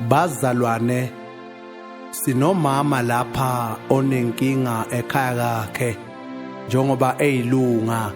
Bazalwane sinomama lapha onenkinga ekhaya kakhe njengoba eyilunga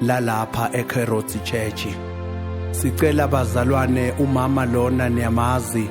lalapha eCarrots Church. Sicela bazalwane umama lona niyamazi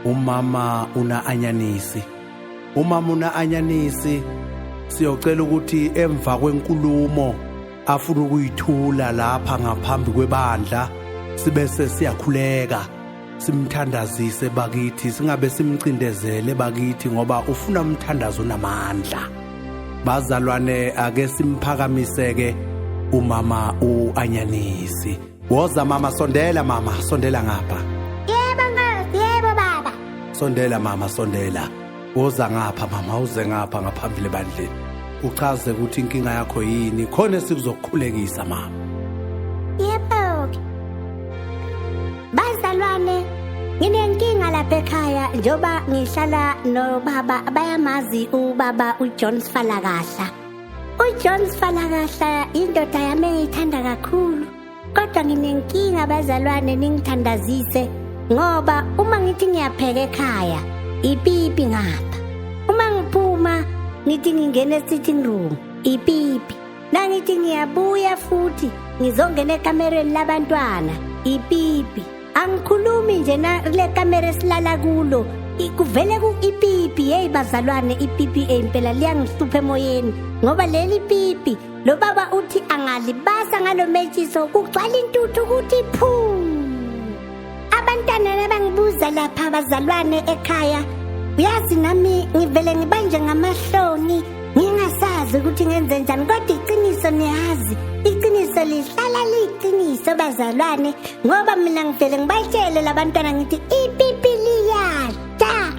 umama una anyanisi. Umama una anyanisi siyocela ukuthi emva kwenkulumo afuna ukuyithula lapha ngaphambi kwebandla sibe sesiyakhuleka simthandazise bakithi singabe simcindezele bakithi ngoba ufuna umthandazo onamandla bazalwane ake simphakamiseke umama uanyanisi woza mama sondela mama sondela ngapha yebo yebo baba sondela mama sondela woza ngapha mama uze ngapha ngaphambili ebandleni uchaze ukuthi inkinga yakho yini khona esikuzokukhulekisa mama yebo-ke bazalwane nginenkinga lapha ekhaya njengoba ngihlala nobaba bayamazi ubaba ujohn sifalakahla ujohn sifalakahla indoda yami engiyithanda kakhulu Kodwa nginenkinga abazalwane ningithandazise ngoba uma ngithi ngiyapheka ekhaya ipipi ngapha. Uma ngiphuma ngithi ngingena esitting room ipipi. Nangithi ngiyabuya futhi ngizongena ekamereni labantwana ipipi. Angikhulumi nje na le kamera esilala kulo kuvele ku-ipipi yeyi bazalwane ipipi impela liyangihlupha emoyeni ngoba leli pipi Lo baba uthi angalibasa ngalo metshiso kugcwala intuthu ukuthi phu. Abantwana nabangibuza lapha abazalwane ekhaya uyazi nami ngivele ngibanje ngamahloni ngingasazi ukuthi ngenze njani kodwa iqiniso niyazi iqiniso lihlala liyiqiniso bazalwane ngoba mina ngivele ngibatshele labantwana ngithi ipipi liyadla